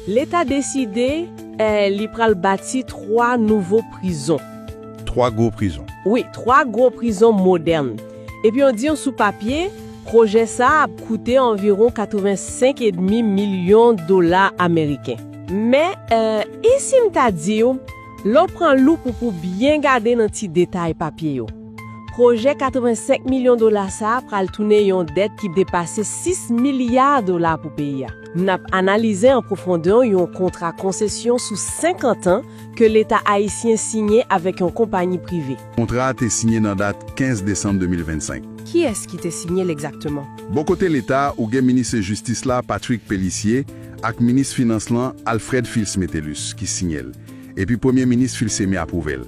Leta deside li pral bati 3 nouvo prizon. 3 gwo prizon. Wi, 3 gwo prizon modèn. Epi yo di yo sou papye, pwojè sa ap koute anviwon 85 edmi milyon dola ameriken. Men, e si m ta di w, lè w pran loup ou pou byen gade nan ti detay papye yo, pwojè 85 milyon dola sa pral tounen yon dèt ki depase 6 milya dola pou peyi a. N ap analize an pwofondè yon kontra konsesyon sou 50 an ke Leta ayisyen siyen avèk yon konpanyi prive. Kontra a te siyen nan dat 15 desanm 2025. Kiyès ki te siyen l egzakteman? Bò kote Leta, ou gen Minis Jistis la, Patrick Pélissier, ak Minis Finans lan, Alfred Fils Métellus, ki siyen l, epi Premye Minis Filcemé apwouve l.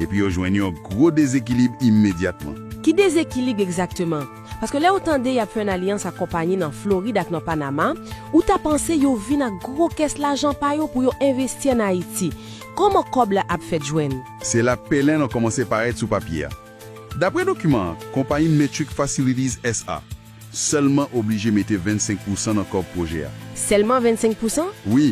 epi yo jwenn yon gwo dezekilib imedyatman. Ki dezekilib egzakteman? Paske lè ou tande y ap fè yon alyans ak konpayi nan Florid ak nan Panama, ou ta panse yo vin ak gwo kès lajan pa yo pou yo envesti ann Ayiti. Kòman kòb la ap fèt jwenn? Se la pèlen lan kòmanse parèt sou papye a. Dapre dokiman an, konpayi Metric Facilities SA. Sèlman oblije mete 25 pousan nan kòb pwojè a. Sèlman 25 pousan? Wi.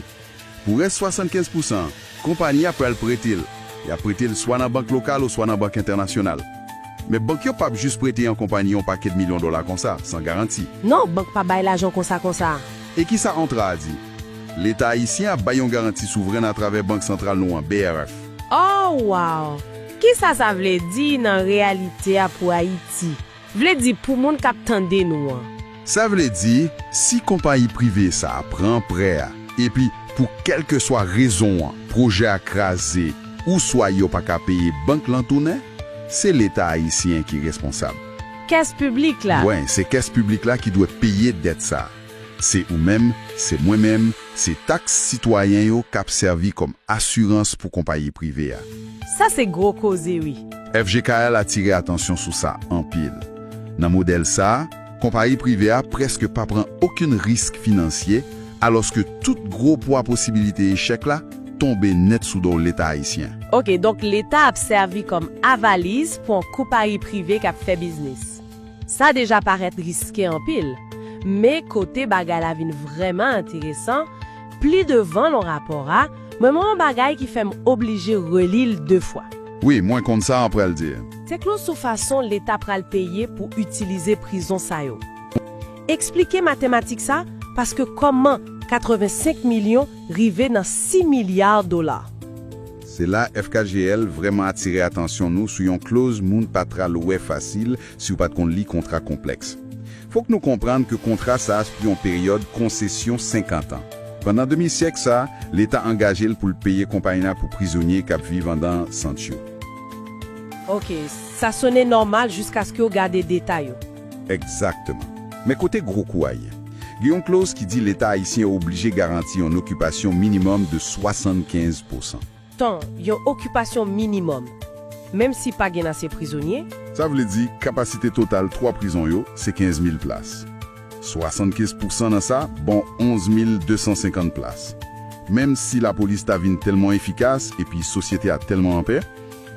Pou rès 75 pousan an, konpani a pral prete l. Y ap prete l swa nan bank lokal oswa nan bank entènasyonal. Men bank yo pap jis prete yon konpani yon pakèt milyon dola konsa, san garanti. Non, bank pa bay lajan konsa konsa. E ki sa ontra a di? Leta ayisyen ap bay yon garanti souvrèn atravè Bank santral nou an, BRF. Oh wow! Ki sa sa vle di nan reyalite a pou Ayiti? Vle di pou moun k ap tande nou an. Sa vle di, si konpayi prive sa a pran prè a epi pou kèlkeswa rezon an pwojè a kraze ouswa yo pa ka peye bank lan tounen, se Leta ayisyen ki responsab. Kès piblik la. Wen, se kès piblik la ki dwe peye dèt sa a. Se ou menm, se mwen menm, se taks sitwayen yo k ap sèvi kòm asirans pou konpayi prive a. Sa se gwo koze wi! FGKL atire atansyon sou sa anpil. Nan modèl sa, konpayi prive a prèske pa pran okenn risk finansye, alòske tout gwo pwa posibilite echèk la tonbe nèt sou do Leta ayisyen. Ok, donk Leta ap sèvi kòm avaliz pou an konpayi prive k ap fè biznis. Sa deja parèt riske anpil, men kote bagay la vin vrèman enteresan, pli devan lan rapò a, mwen wè yon bagay ki fè m oblije reli l de fwa. Wi, mwen konn sa a pral di. Teklo sou fason leta pral peye pou itilize prizon sa yo. Eksplike matematik sa paske kòman 85 milyon rive nan 6 milya dola? Se la FKGL vrèman atire atansyon nou sou yon kloz moun pa pral wè fasil si w pa t konn li kontra konplèks. Fòk nou konprann ke kontra sa sou yon peryòd konsesyon 50 an. Pandan demi syèk sa, Leta angaje l pou l peye konpayi la pou prizonye k ap viv andan sant yo. Ok, sa sone nòmal jiskaske w gade detay yo. Egzakteman. Men kote gwo kou a ye. Gen yon kloz ki di Leta ayisyen oblije garanti yon okipasyon minimòm de 75 pousan. Tan, yon okipasyon minimòm. Menm si pa gen ase prizonye. Sa vle di, kapasite total twa prizon yo se 15 mil plas. 75 pousan nan sa bon 11 mil 250 plas. Menm si lapolis ta vin tèlman efikas epi sosyete a tèlman anpè,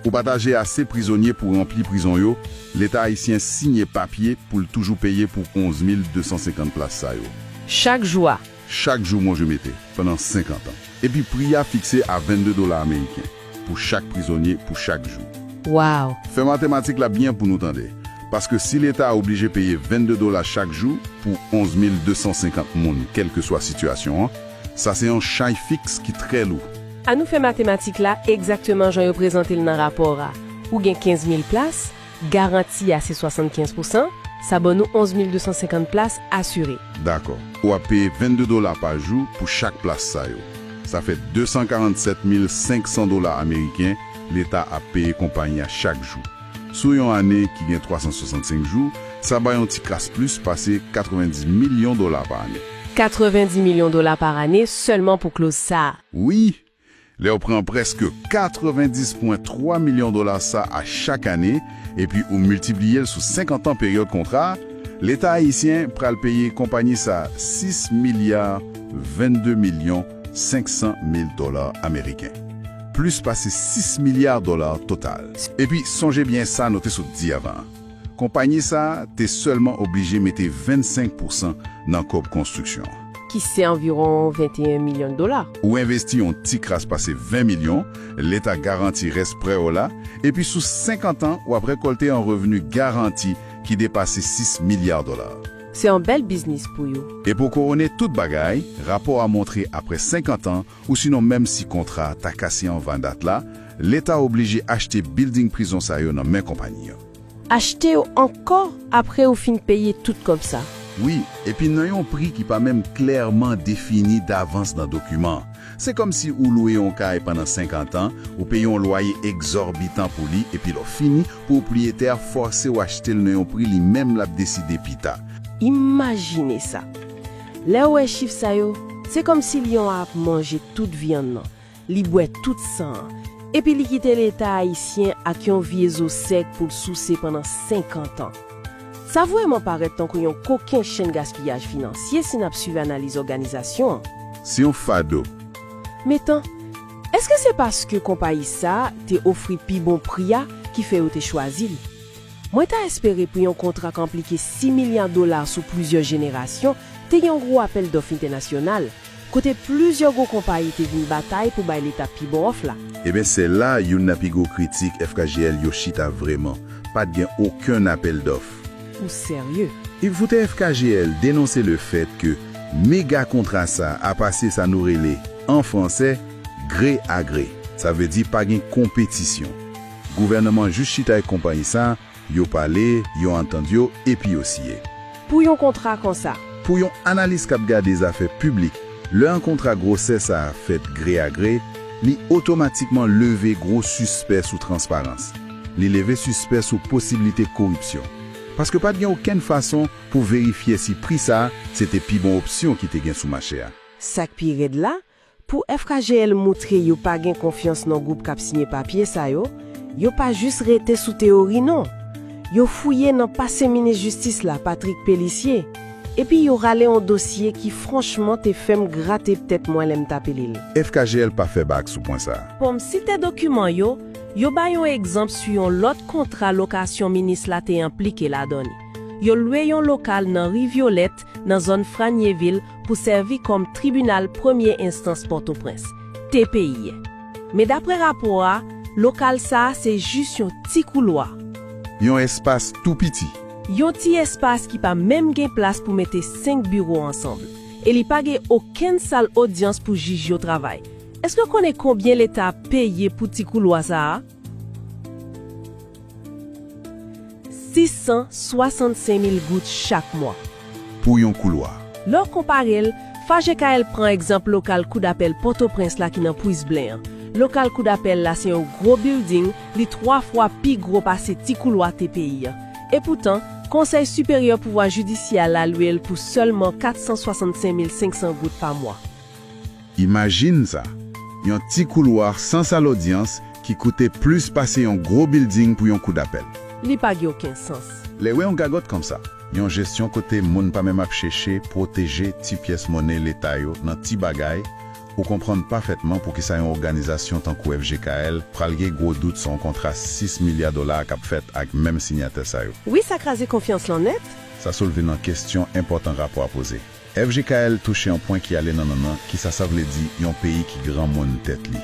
Pou pataje ase prizonye pou ranpli prizon yo, Leta ayisyen siyen papye pou l toujou peye pou 11 mil 250 plas sa yo. Chak jou a. Chak jou manje mete, pandan 50 an. Epi pri a fikse a 22 dola ameriken pou chak prizonye pou chak jou. Waww! Fè matematik la byen pou nou tande. Paske si Leta a oblije peye 22 dola chak jou pou 11 mil 250 moun kèlkeswa sitiyasyon an, sa se yon chay fiks ki trè lou. An nou fè matematik la egzakteman jan yo prezante l nan rapò a. Ou gen 15 mil plas, garanti a se 75 pousan, sa ban nou 11 mil 250 plas asire. Dakò. Ou ap peye 22 dola pa jou pou chak plas sa yo. Sa fè 247 mil 500 dola ameriken Leta ap peye konpayi a chak jou. Sou yon ane ki gen 365 jou, sa bay yon ti kras plis pase 90 milyon dola pa ane. 90 milyon dola pa ane sèlman pou kloz sa a. Wi, lè w pran prèske 90 pwen 3 milyon dola sa a chak ane epi ou miltipliye l sou 50 an peryòd kontra a, Leta ayisyen pral peye konpanyi sa a 6 milya 22 milyon 500 mil dola ameriken, plis pase 6 milya dola total. Epi sonje byen sa nou te sot di avan an. Konpayi sa a te sèlman oblije mete 25 pousan nan kòb konstriksyon an. Ki se anviwon 21 milyon dola. Ou envesti yon ti kras pase 20 milyon, Leta garanti rès prè w la, epi sou 50 an w ap rekòlte yon revni garanti ki depase 6 milya dola. Se yon bèl biznis pou yo. E pou kowone tout bagay, rapò a montre apre 50 an, Ousinon menm si kontra a ta kase anvan dat la, Leta oblije achte bilding prizon sa yo nan men konpayi an. Achte yo ankò apre ou fin peye tout kòb sa. Wi, epi nan yon pri ki pa menm klèman defini davans nan dokiman. Se kòm si ou lwe yon kay pandan senkant an, ou peye yon lwaye egzòbitan pou li epi lè w fini, pwopriyetè a fòse w achte l nan yon pri li menm l ap deside pita. Imajine sa! Lè ou wè chif sa yo, se kòmsi lyon an ap manje tout vyann nan, li bwè tout san an, epi li kite Leta ayisyen ak yon vye zo sèk pou l souse pandan 50 an. Sa vrèman parèt tankou yon koken chenn gaspiyaj finansye si n ap suiv analiz òganizasyon an. Se yon fado. Metan, èske se paske konpayi sa a te ofri pi bon pri a ki fè yo te chwazi li? Mwen ta espere pou yon kontra k enplike 6 milya dola sou plizyè jenerasyon te gen yon gwo apèl dòf entènasyonal, kote plizyè gwo konpayi te vin batay pou bay Leta pi bon òf la. Eben sè la youn nan pi gwo kritik FKGL yo chita vreman, pa t gen okenn apèl dòf. Ou serye? Ipvoutè FKGL denonse le fèt ke mega kontra sa a pase sa nou rele, an franse, gre a gre. Sa vle di pa gen konpetisyon. Gouvèneman jis chita ak konpayi sa, yo pale, yo antann yo, epi yo siye. Pou yon kontra konsa. Pou yon analis k ap gade zafè piblik, lè yon kontra gwosè sa a fèt gre a gre, li otomatikman leve gwo sispè sou transparans. Li leve sispè sou posiblite koripsyon. Paske pa t gen okenn fason pou verifye si pri sa se te pi bon opsyon ki te gen sou mache a. Sa k pi rèd la, Pou FKGL moutre yo pa gen konfyans nan gwoup k ap siyen papye sa yo, yo pa jis rete sou teyori non. Yo fouye nan pase minis jistis la, Patrick Pélissier, epi yo rale yon dosye ki franchman te fè m grate tèt mwen lè m t ape li l. FKGL pa fè bak sou pwen sa. Pou m site dokiman yo, yo bay yon egzanp sou yon lòt kontra lokasyon minis la te enplike ladan li. Yo lwe yon lokal nan ri Vyolèt nan zòn Franyevil pou sèvi kòm Tribinal Premye Enstans Pòtoprens, tpi. Men daprè rapò a, lokal sa a se jis yon ti koulwa. Yon espas tou piti. Yon ti espas ki pa menm gen plas pou mete senk biwo ansanm. E li pa gen okenn sal odyans pou jij yo travay. Èske w konnen konbyen Leta ap peye pou ti koulwa sa a? 665 mil goud chak mwa. Pou yon koulwa. Lè w konpare l, FAJKL pran egzanp lokal kou dapèl Pòtoprens la ki nan Pwis Blen an. Lokal kou dapèl la se yon gwo bilding, li twa fwa pi gwo pase ti koulwa TPI an. Epoutan, Konsèy Siperyè Pouvwa Jidisyè a lalwe l pou sèlman 465 mil 500 goud pa mwa. Imajine sa! Yon ti koulwa san sal odyans ki koute plis pase yon gwo bilding pou yon kou dapèl. Li pa gen oken sans. Lè wè yon gagòt konsa, yon jesyon kote moun pa menm ap cheche pwoteje ti pyès monnen leta yo nan ti bagay, ou konprann pafètman poukisa yon oganizasyon tankou FGKL pral gen gwo dout sou yon kontra 6 milya dola k ap fèt ak menm sinyatè sa yo. Wi sa kraze konfyans lan nèt. Sa soulve nan kestyon enpòtan rapò a poze. FJKL touche yon pwen ki ale nan nannan kisa sa vle di yon peyi ki granmoun tèt li.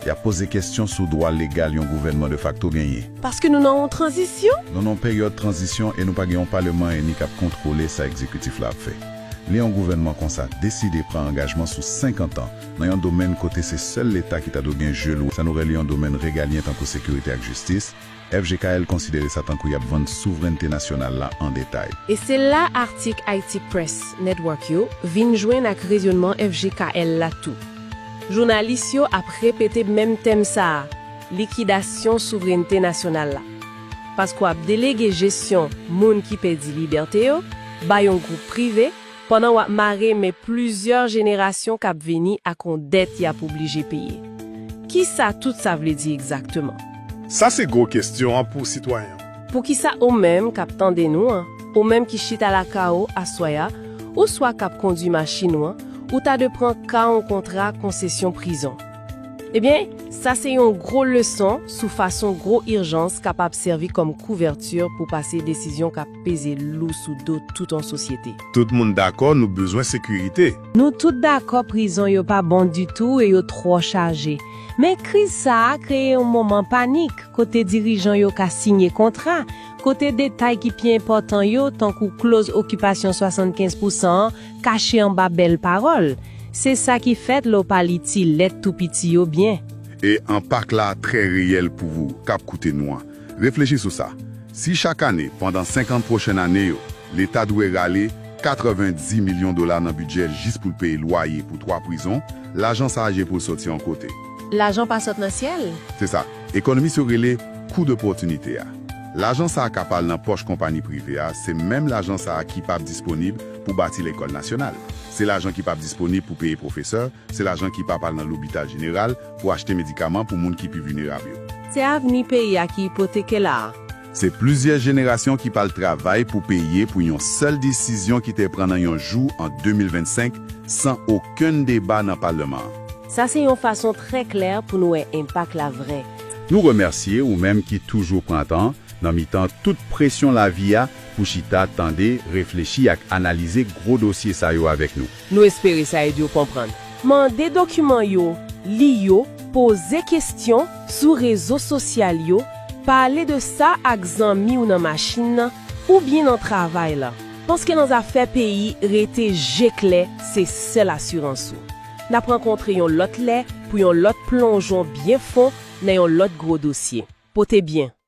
Y ap poze kestyon sou dwa legal yon gouvènman de fakto genyen. Paske nou nan yon tranzisyon? Nou nan yon peryòd tranzisyon e nou pa gen yon paleman eni k ap kontwole sa ekzekitif la ap fè. Lè yon gouvènman konsa deside pran angajman sou 50 an nan yon domèn kote se sèl leta ki ta dwe gen je l sa nou rele yon domèn regalyen tankou sekirite ak jistis, FGKL konsidere sa tankou y ap vann souvrènte nasyonal la an detay. E se la atik Haïti Press Network yo vin jwenn ak rezonman FGKL la tou. Jounalis yo ap repete menm tèm sa a, likidasyon souvrènte nasyonal la. Paske w ap delege jesyon moun ki pèdi libète yo bay yon gwoup prive, Pandan wap mare men plizyè jenerasyon kap vini ak on dèt yap oblije peye. Kisa tout sa vle di egzakteman? Sa se gwo kestyon an pou sitwayen an. Poukisa ou menm kap tande nou an, ou menm ki chita lakay ou aswè a, ou swa kap kondwi machin ou an, ou ta de pran ka on kontra konsesyon prizon? Ebyen, sa se yon gwo leson sou fason gwo irjans kapab sèvi kòm kouvèti pou pase desizyon kap. peze lou sou do tout yon sosyete. Tout moun dakò nou bezwen sekirite. Nou tout dakò prizon yo pa bon ditou e yo twò chaje. Men kriz sa a kreye yon moman panik kote dirijan yo ka siyen kontra, kote detay ki pi enpòtan yo, tankou kloz okipasyon 75 pousan an, kache anba bèl pawòl. Se sa ki fèt lè w pa li ti lèt tou piti yo byen. E enpak la trè reyèl pou wou k ap koute nou an. Reflechi sou sa, Si chak ane pandan 50 pwochen ane yo, Leta dwe rale 90 milyon dola nan bidjè l jis pou l peye lwaye pou twa prizon, lajan sa a je pou l soti yon kote. Lajan pa sot nan syèl. Se sa ekonomis yo rele kou dopòtinite a. Lajan sa a kap al nan pòch konpani prive a, se menm lajan sa a kipap disponib pou bati lekòl nasyonal, se lajan kipap disponib pou peye pwofesè, se lajan kipap al nan lopital jeneral, Pou achte medikaman pou moun ki pi vinerab yo. Se avni peyi a ki ipoteke la a. Se plizyè jenerasyon ki pral travay pou peye pou yon sèl desizyon ki te pran nan yon jou an 2025 san okenn deba nan palman an. Sa se yon fason trè klè pou nou wè enpak la vrè. Nou remèsye ou menm ki toujou pran tan, nan mitan tout presyon lavi a, pou chita, tande, reflechi ak analize gwo dosye sa yo avèk nou. Nou espere sa ede w konprann. Mande dokiman yo, li yo, poze kesyon sou rezo sosyal yo, pale de sa ak zanmi w nan machin nan oubyen nan travay la, paske nan zafè peyi rete je klè se sèl asirans ou. N ap rankontre yon lòt lè pou yon lòt plonjon byen fon nan yon lòt gwo dosye. Pote byen!